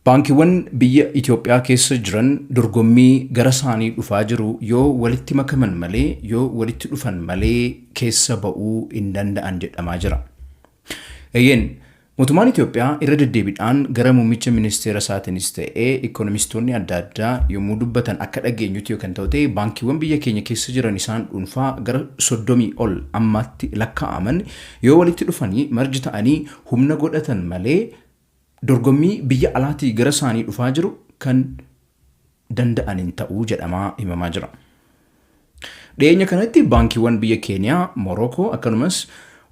Baankiwwan biyya Itoophiyaa keessa jiran dorgommii gara saanii dhufaa jiru yoo walitti makaman malee yoo walitti dhufan malee keessa ba'uu hin danda'an jedhamaa jira. Eeyyeen, mootummaan Itoophiyaa irra deddeebidhaan gara muummicha ministeera isaatinis ta'e ikkonomistoonni adda addaa yommuu dubbatan akka dhageenyutti yoo kan ta'u ta'e baankiwwan biyya keenya keessa jiran isaan dhuunfaa gara 30 ol ammaatti lakkaa'aman yoo walitti dhufanii marji ta'anii humna godhatan malee dorgommii biyya alaatii gara isaanii dhufaa jiru kan danda'an hin ta'u jedhamaa himamaa jira. Dhiyeenya kanatti baankiiwwan biyya Keeniyaa, Morookoo akkanumas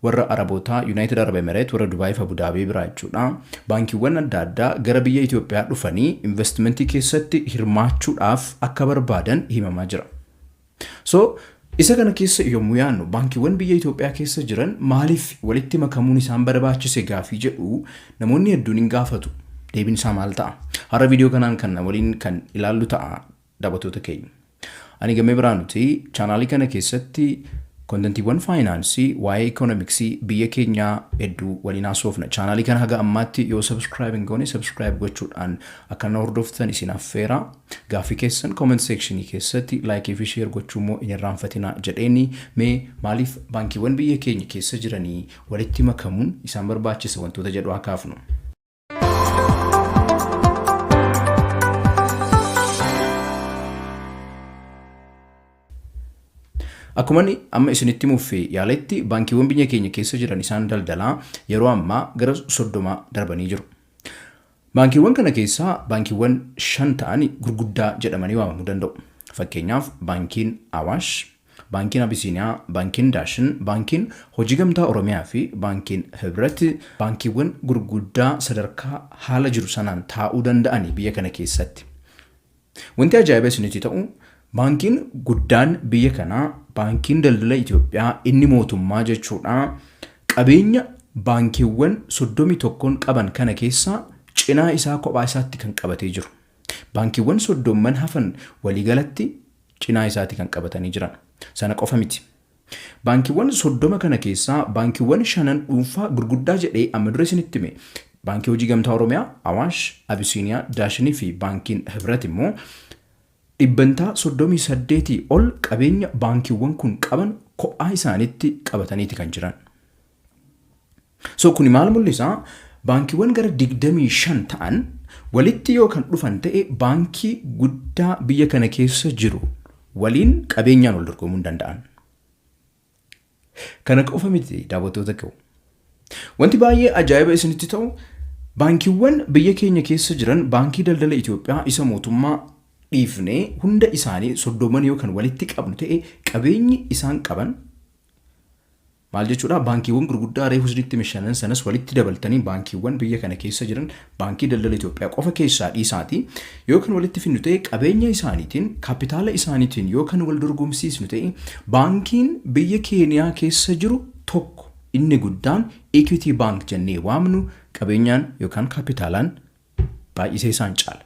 warra Arabootaa Yuunaayitid Arab Emereet warra Dubaayiif Abudaabee biraa jechuudha baankiiwwan adda addaa gara biyya Itoophiyaa dhufanii investimentii keessatti hirmaachuudhaaf akka barbaadan himamaa jira. So isa kana keessa yommuu yaannu baankiiwwan biyya Itoophiyaa keessa jiran maaliif walitti makamuun isaan barbaachise gaafii jedhu namoonni hedduun hin gaafatu. Deebiin isaa maal ta'a? Har'a viidiyoo kanaan kan na waliin kan ilaallu ta'a daawwattoota keenya. Ani gammee biraa nuti chaanaalii kana keessatti kontentiiwwan faayinaansii waa'ee ikoonomiksii biyya keenyaa hedduu waliin haasofna. Chaanaalii kana haga ammaatti yoo sabiskiraayib hin goone sabiskiraayib gochuudhaan akka na hordoftan isin affeera. Gaaffii keessan comment section keessatti like fi share gochuu immoo hin irraanfatinaa jedheeni mee maaliif baankiiwwan biyya keenya keessa jiranii walitti makamuun isaan barbaachisa wantoota jedhu haa kaafnu. Akkuma inni amma isinitti muffe yaaletti baankiiwwan biyya keenya keessa jiran isaan daldalaa yeroo ammaa gara soddomaa darbanii jiru. Baankiiwwan kana keessaa baankiiwwan shan ta'an gurguddaa jedhamanii waamamuu danda'u. Fakkeenyaaf Baankiin Awaash, Baankiin Abisiiniyaa, Baankiin Daashin, Baankiin Hojii Gamtaa Oromiyaa fi Baankiin Hibrat baankiiwwan gurguddaa sadarkaa haala jiru sanaan taa'uu danda'ani biyya kana keessatti. Wanti ajaa'ibaa isinitti ta'u baankiin guddaan biyya kanaa baankiin daldala Itoophiyaa inni mootummaa jechuudha qabeenya baankiiwwan 31n qaban kana keessaa cinaa isaa kophaa isaatti kan qabatee jiru. Baankiiwwan soddomman hafan waliigalatti cinaa isaatti kan qabatanii jiran. Sana qofa miti. Baankiiwwan 30 kana keessaa baankiiwwan shanan dhuunfaa gurguddaa jedhee amma dura isinitti hime. Baankii Hojii Gamtaa Oromiyaa, Awaash, Abisiiniyaa, Daashinii fi Baankiin Hibrat immoo dhibbantaa 38 ol qabeenya baankiiwwan kun qaban kophaa isaaniitti qabataniiti kan jiran. So kuni maal mul'isa? Baankiiwwan gara 25 ta'an walitti yoo kan dhufan ta'e baankii guddaa biyya kana keessa jiru waliin qabeenyaan wal dorgomuu hin danda'an. Kana qofa miti daawwattoota koo. Wanti baay'ee ajaa'iba isinitti ta'u baankiiwwan biyya keenya keessa jiran baankii daldala Itoophiyaa isa mootummaa dhiifnee hunda isaanii soddooman yoo kan walitti qabnu ta'e qabeenyi isaan qaban Maal jechuudha? Baankiiwwan gurguddaa reefu isinitti hime shanan sanas walitti dabaltanii baankiiwwan biyya kana keessa jiran Baankii Daldala Itoophiyaa qofa keessaa dhiisaatii yoo kan walitti fidnu ta'e qabeenya isaaniitiin, kapitaala isaaniitiin yoo kan wal dorgomsiisnu ta'e baankiin biyya Keeniyaa keessa jiru tokko inni guddaan Equity Bank jennee waamnu qabeenyaan yookaan kapitaalaan baay'isee isaan caala.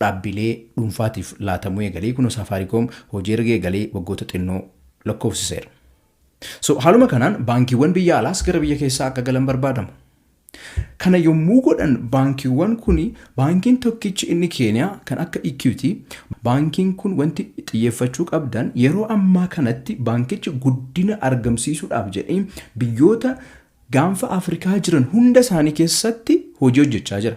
dhaabbilee dhuunfaatiif laatamuu eegalee kunoo Saafaariikoom hojii erga eegalee waggoota xinnoo lakkoofsiseera. So haaluma kanaan baankiiwwan biyya alaas gara biyya keessaa akka galan barbaadamu. Kana yommuu godhan baankiiwwan kun baankiin tokkichi inni Keeniyaa kan akka Equity baankiin kun wanti xiyyeeffachuu qabdan yeroo ammaa kanatti baankichi guddina argamsiisuudhaaf jedhee biyyoota gaanfa Afrikaa jiran hunda isaanii keessatti hojii hojjechaa jira.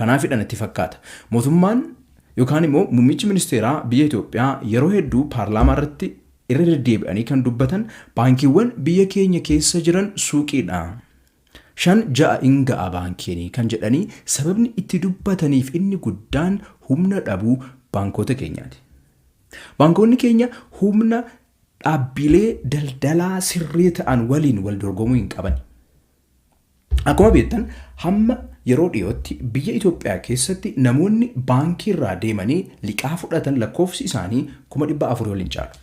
Kanaafidha natti fakkaata mootummaan yookaan immoo muummichi ministeeraa biyya Itoophiyaa yeroo hedduu paarlaamaa irratti irra deddeebi'anii kan dubbatan baankiiwwan biyya keenya keessa jiran suuqiidha. Shan ja'a in ga'a baankiin kan jedhanii sababni itti dubbataniif inni guddaan humna dhabuu baankoota keenyaati. Baankoonni keenya humna dhaabbilee daldalaa sirrii ta'an waliin wal dorgomuu hin qabani. Akkuma beektan hamma yeroo dhiyootti biyya Itoophiyaa keessatti namoonni baankiirraa deemanii liqaa fudhatan lakkoofsi isaanii kuma dhibba afurii ol hin caalu.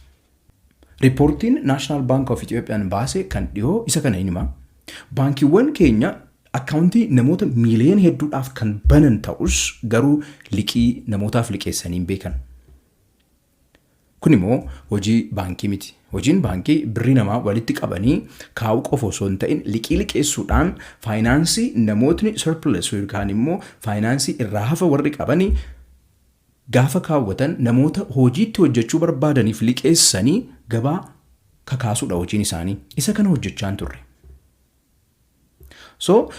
Riippoortiin Naashinaal Baank of Itoophiyaan baase kan dhiyoo isa kana hin hima. Baankiiwwan keenya akkaawuntii namoota miiliyoona hedduudhaaf kan banan ta'us garuu liqii namootaaf liqeessanii hin beekan. Kun immoo hojii baankii miti. Hojiin baankii birrii namaa walitti qabanii kaa'uu qofa osoo hin ta'in liqii liqeessuudhaan faayinaansii namootni surplus yookaan immoo faayinaansii irraa hafa warri qabani gaafa kaawwatan namoota hojii itti hojjechuu barbaadaniif liqeessanii gabaa kakaasuudha hojiin isaanii. Isa kana hojjechaa hin turre. So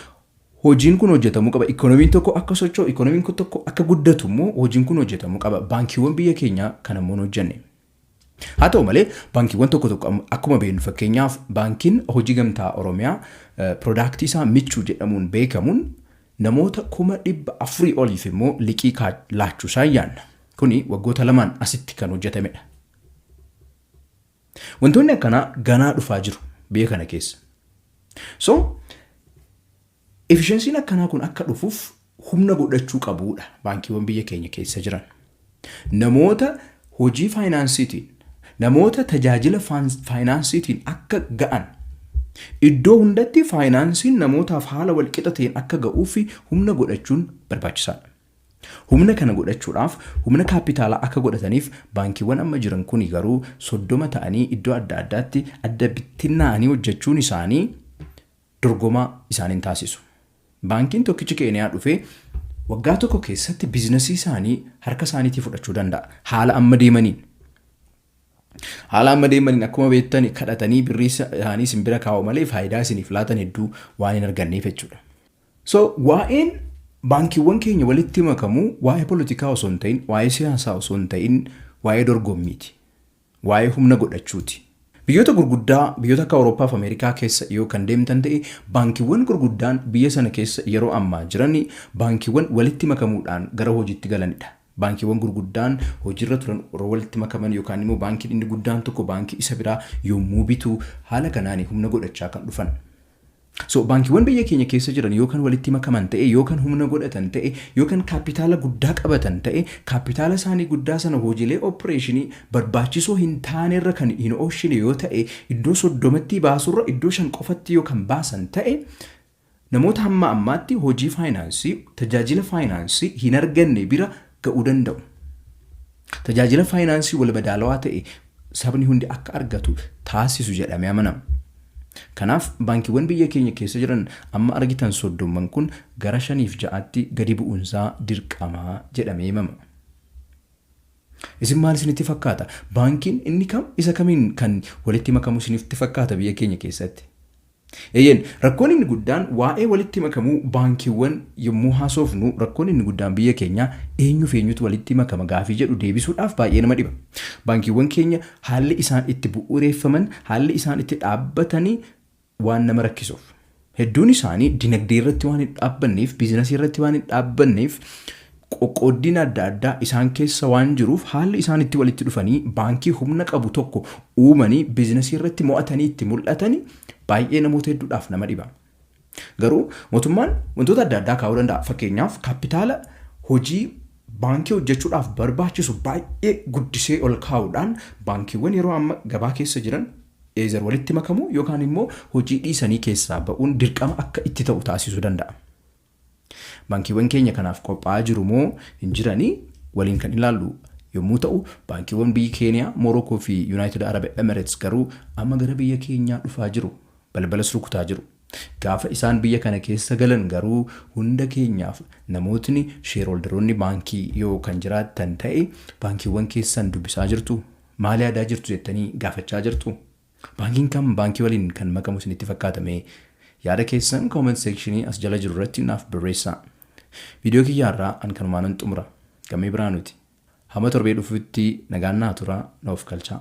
hojiin kun hojjetamuu qaba. Ikoonomiin tokko akka socho'u, ikoonomiin kun tokko akka guddatu immoo hojiin kun hojjetamuu qaba. Baankiiwwan biyya keenyaa kan ammoo hin hojjenne. Haa ta'u malee baankiiwwan tokko tokko am- akkuma beeknu fakkeenyaaf baankiin hojii gamtaa Oromiyaa eh, piroodaaktii isaa michuu jedhamuun beekamuun namoota kuma dhibba afurii oliif immoo liqii kaa- laachuu isaa yaanna. Kuni waggoota lamaan asitti kan hojjetamedha. Wantoonni akkanaa ganaa dhufaa jiru biyya kana keessa. So efficiency'n akkanaa kun akka dhufuuf humna godhachuu qabuudha baankiiwwan biyya keenya keessa jiran. Namoota hojii faayinaansiitiin, namoota tajaajila faans- faayinaansiitiin akka ga'an iddoo hundatti faayinaansiin namootaaf haala walqixa ta'een akka ga'uu fi humna godhachuun barbaachisaadha. Humna kana godhachuudhaaf humna kaappitaalaa akka godhataniif baankiiwwan amma jiran kuni garuu 30 ta'anii iddoo adda addaatti adda bittinnaa'anii hojjechuun isaanii dorgomaa isaan hin taasisu. Baankiin tokkichi Keeniyaa dhufee waggaa tokko keessatti biizinasii isaanii harka isaaniitii fudhachuu danda'a. Haala amma deemaniin. Haala amma deemaniin akkuma beektan kadhatanii birrii isaanii isin bira kaa'u malee faayidaa isiniif laatan hedduu waan hin arganneef jechuudha. So waa'een baankiiwwan keenya walitti makamu waa'ee polotikaa osoo hin ta'in, waa'ee siyaasaa osoo hin ta'in waa'ee dorgommiiti. Waa'ee humna godhachuuti. Biyyoota gurguddaa biyyoota akka Awurooppaa fi Ameerikaa keessa yoo kan deemtan ta'e baankiiwwan gurguddaan biyya sana keessa yeroo ammaa jiran baankiiwwan walitti makamuudhaan gara hojiitti galanidha. Baankiiwwan gurguddaan hojiirra turan yeroo walitti makaman yookaan immoo baankiin inni guddaan tokko baankii isa biraa yommuu bitu haala kanaani humna godhachaa kan dhufan. So baankiiwwan biyya keenya keessa jiran yoo kan walitti makaman ta'e, yoo kan humna godhatan ta'e, yoo kan kaappitaala guddaa qabatan ta'e, kaappitaala isaanii guddaa sana hojiilee oppireeshinii barbaachisoo hin taanerra kan hin ooshine yoo ta'e, iddoo 30ttii baasurra iddoo 5 qofatti yoo kan baasan ta'e, namoota hamma ammaatti hojii faayinaansii, tajaajila faayinaansii, hin arganne bira ga'uu danda'u. Tajaajila faayinaansii walmadaalawaa ta'e sabni hundi akka argatu taasisu jedhamee amanama. Kanaaf baankiiwwan biyya keenya keessa jiran amma argitan soddomman kun gara shaniif ja'atti gadi bu'uunsaa dirqama jedhamee himama. Isin maal isinitti fakkaata? Baankiin inni kam isa kamiin kan walitti makamu isinitti fakkaata biyya keenya keessatti? Eeyyeen, rakkoon inni guddaan waa'ee walitti makamuu baankiiwwan yommuu haasoofnu rakkoon inni guddaan biyya keenyaa eenyuuf eenyutu walitti makama gaafii jedhu deebisuudhaaf baay'ee nama dhiba. Baankiiwwan keenya haalli isaan itti bu'uureeffaman, haalli isaan itti dhaabbatan waan nama rakkisuuf. Hedduun isaanii dinagdeerratti waan hin dhaabbanneef, biizinasiirratti waan hin dhaabbanneef, Qoqqooddiin adda addaa isaan keessa waan jiruuf haalli isaan itti walitti dhufanii baankii humna qabu tokko uumanii biiznasii irratti mo'atanii itti mul'atani baay'ee namoota hedduudhaaf nama dhiba. Garuu mootummaan wantoota adda addaa kaa'uu danda'a. Fakkeenyaaf kaappitaala hojii baankii hojjechuudhaaf barbaachisu baay'ee guddisee ol kaa'uudhaan baankiiwwan yeroo amma gabaa keessa jiran either walitti makamuu yookaan immoo hojii dhiisanii keessaa ba'uun dirqama akka itti ta'u taasisuu danda'a. Baankiiwwan keenya kanaaf qophaa'aa jiru moo hin jirani waliin kan ilaallu yommuu ta'u, baankiiwwan biyyi Keeniyaa, Moorookoo fi Yunaayitid Arab Emereets garuu amma gara biyya keenyaa dhufaa jiru, balbalas rukutaa jiru. Gaafa isaan biyya kana keessa galan garuu hunda keenyaaf namootni sheerholdaroonni baankii yoo kan jiraattan ta'e baankiiwwan keessan dubbisaa jirtu? Maal yaadaa jirtu jettanii gaafachaa jirtu? Baankiin kam baankii waliin kan makamu isinitti fakkaata mee? Yaada keessan comment section as jala jiru irratti naaf barreessaa. Video kiyya har'aa an kanumaanan xumura. Gammee Birhaanuuti. Hamma torbee dhufuutti nagaan naa turaa, na ofkalchaa.